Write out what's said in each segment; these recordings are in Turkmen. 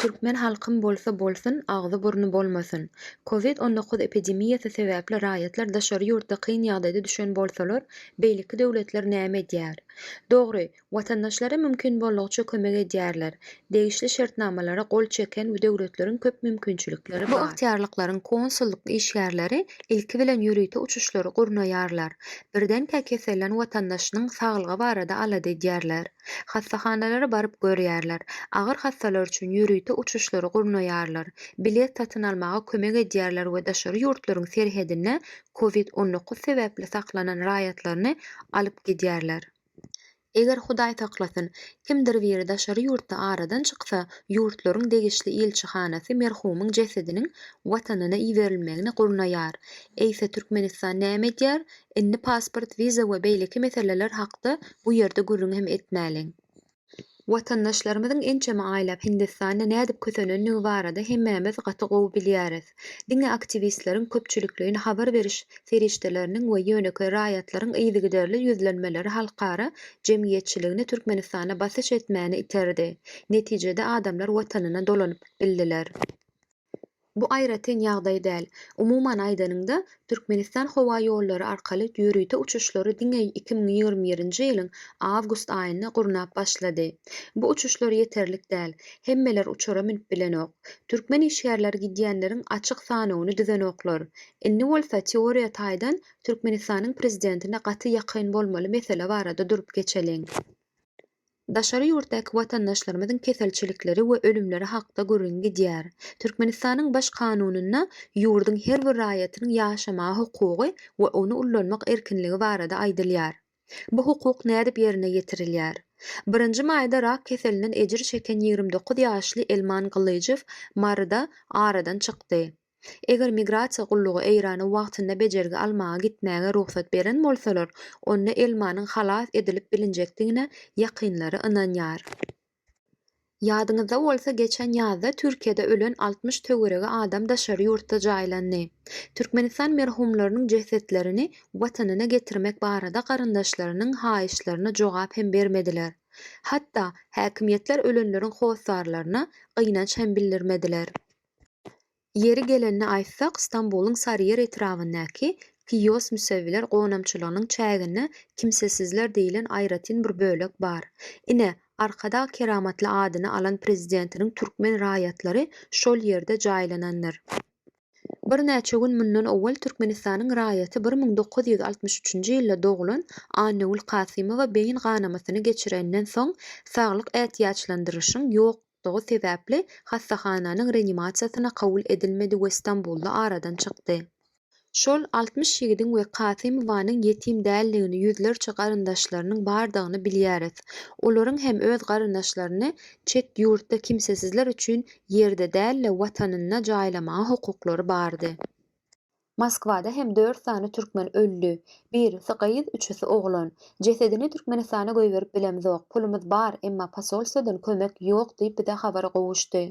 Türkmen halkym bolsa bolsun, agzy-burny bolmasyn. Covid on dokuz epidemiýasy sebäpli raýatlar daşary ýurtda kyn ýagdaýda düşen bolsalar, beýleki döwletler näme edýär? Dogry, watandaşlary mümkin boldugyça kömek edýärler, degişli şertnamalara gol çeken bu döwletleriň köp mümkinçilikleri bar. Bu ygtyýarlyklaryň konsullyk işgärleri ilki bilen ýörite uçuşlary gurnaýarlar, birdenkä kesellän watandaşynyň saglygy barada alada edýärler, hassahanalara baryp görýärler, agyr hassalar üçin ýörite uçuşlary gurnaýarlar, bilet satyn almaga kömek edýärler we daşary ýurtlaryň serhedinde covid on dokuz sebäpli saklanan raýatlaryny alyp gidýärler. Eger Hudaý saklasyn, kimdir biri daşary ýurtda aradan çyksa, ýurtlaryň degişli ilçihanasy merhumyň jesediniň Watanyna iberilmegini gurnaýar. Eýse Türkmenistan näme edýär? Indi pasport, wiza we beýleki meseleler hakda bu ýerde gürrüň hem etmäliň. Watandaşlarymyzyň ençeme aýlap Hindistanda nädip kösenendigi barada hemmämiz gaty gowy bilýäris. Diňe aktiwistleriň, köpçülikleýin habar beriş serişdeleriniň we ýönekeý raýatlaryň yzygiderli ýüzlenmeleri halkara jemgyýetçiligini Türkmenistana basyş etmäne iterdi. Netijede adamlar watanyna dolanyp bildiler. Bu aýratyn ýagdaý däl. Umuman aýdanyňda, Türkmenistan howa ýollary arkaly ýörite uçuşlary diňe iki müň ýigrimi birinji ýylyň awgust aýynda gurnap başlady. Bu uçuşlar ýeterlik däl. Hemmeler uçara münüp bilenok. Türkmen işgärleri gidýänleriň açyk sanawyny düzenoklar. Indi bolsa teoriýa taýdan Türkmenistanyň prezidentine gaty ýakyn bolmaly mesele barada durup geçeliň. Daşary ýurtdaky watandaşlarymyzyň keselçilikleri we ölümleri hakda gürrüň gidýär. Türkmenistanyň Baş Kanunynda ýurduň her bir raýatynyň ýaşamaga hukugy we ony ullanmak erkinligi barada aýdylýar. Bu hukuk nädip ýerine ýetirilýär? Birinji maýda rak keselinden ejir çeken ýigrimi dokuz ýaşly Elman Gylyjow Maryda aradan çykdy. Eger migrasiýa gullugy Eýrana wagtynda bejergi almaga gitmäge rugsat beren bolsalar, onda Elmanyň halas edilip bilinjekdigine ýakynlary ynanýar. Ýadyňyzda bolsa, geçen ýazda Türkiýede ölen altmyş töweregi adam daşary ýurtda jaýlandy. Türkmenistan merhumlarynyň jesetlerini Watanyna getirmek barada garyndaşlarynyň haýyşlaryna jogap hem bermediler. Hatda, häkimiýetler ölenleriň hossarlaryna gynanç hem bildirmediler. Ýeri gelende aýtsak, Stambulyň Sarýer etrabyndaky Kiýos müsewiler gonamçylygynyň çäginde kimsesizler diýlen aýratyn bir bölek bar. Ine, Arkadag keramatly adyny alan prezidentiniň türkmen raýatlary şol ýerde jaýlanandyr. Birnäçe gün mundan owal Türkmenistanyň raýaty bir müň dokuz ýüz altmyş üçünji ýylda doglan Annagül Kasymowa beýin ganamasyny geçirenden soň saglyk ätiýaçlandyryşyň ýok Şo sebäpli hassahananyň reanimasiýasyna kabul edilmedi we Stambulda aradan çykdy. Şol altmyş ýigidiň we Kasymowanyň ýetim däldigini, ýüzlerçe garyndaşlarynyň bardygyny bilýäris. Olaryň hem öz garyndaşlaryny çet ýurtda kimsesizler üçin ýerde däl-de, Watanynda jaýlamaga hukuklary bardy. Moskwada hem dört sany türkmen öldi. Birisi gyz, üçüsi oglan. Jesedini Türkmenistana goýberip bilemzok. Pulumyz bar, emma posolstwodan kömek ýok diýip bize habar gowuşdy.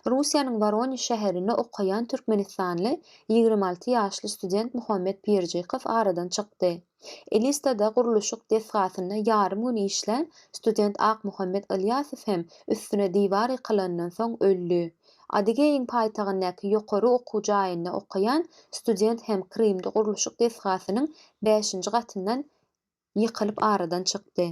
Russiýanyň Woroniž şäherinde okaýan türkmenistanly ýigrimi alty ýaşly student Muhammet Pirjikow aradan çykdy. Elistada gurluşyk desgasynda ýarym gün işlän student Akmuhammet Ylýasow hem üstüne diwar ýykylandan soň öldi. Adygeýiň paýtagyndaky ýokary okuw jaýynda okaýan student hem Krymda gurluşyk desgasynyň bäşinji gatyndan ýykylyp aradan çykdy.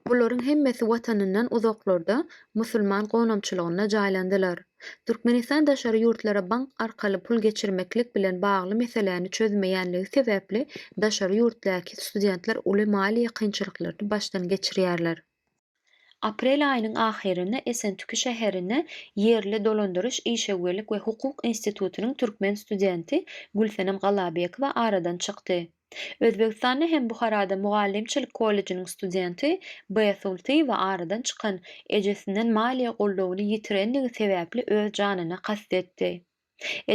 Bularyň hemmesi watanyndan uzaklarda musulman gonamçylygynda jaýlandylar. Türkmenistan daşary ýurtlara bank arkaly pul geçirmeklik bilen bagly meseläni çözmeýänligi sebäpli daşary ýurtdaky studentler uly maliýe kynçylyklaryny başdan geçirýärler. Aprel aýynyň ahyrynda Esentüki şäherinde ýerli dolandyryş, işewürlik we hukuk institutynyň türkmen studenti Gülsenem Galabekowa aradan çykdy. Özbegistanda hem Buharada mugallymçylyk kollejiniň studenti Beýsultyýewa aradan çykan ejesinden maliýe goldawyny ýitirendigi sebäpli öz janyna kast etdi.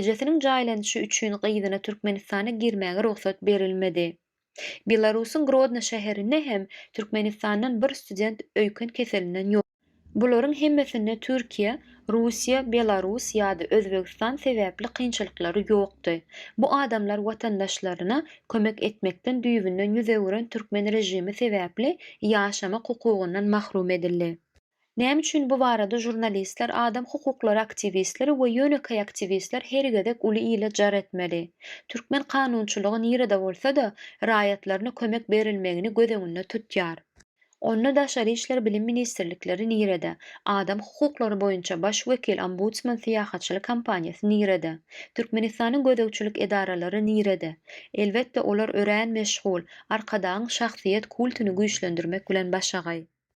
Ejesiniň jaýlanyşy üçin gyzyna Türkmenistana girmäge rugsat berilmedi. Belarusyň Grodno şäherinde hem Türkmenistandan bir student öýken keselinden ýok. Bularyň hemmesinde Türkiýe, Russiýa, Belarus ýa-da Özbegistan sebäpli kynçylyklary ýokdy. Bu adamlar watandaşlaryna kömek etmekden düýbünden ýüz öwüren türkmen režimi sebäpli ýaşamak hukugyndan mahrum edildi. Näme üçin bu barada žurnalistler, adam hukuklary aktiwistleri we ýönekeý aktiwistler her gezek uly ile jar etmeli? Türkmen kanunçylygy nirede bolsa-da, raýatlaryna kömek berilmegini göz öňünde tutýar. Onda daşary işler bilim ministrlikleri nirede? Adam hukuklary boýunça baş wekil ombudsman syýahatçylyk kompaniýasy nirede? Türkmenistanyň gözegçilik edaralary nirede? Elbetde olar örän meşgul, Arkadagyň şahsyýet kultyny güýçlendirmek bilen başagaý.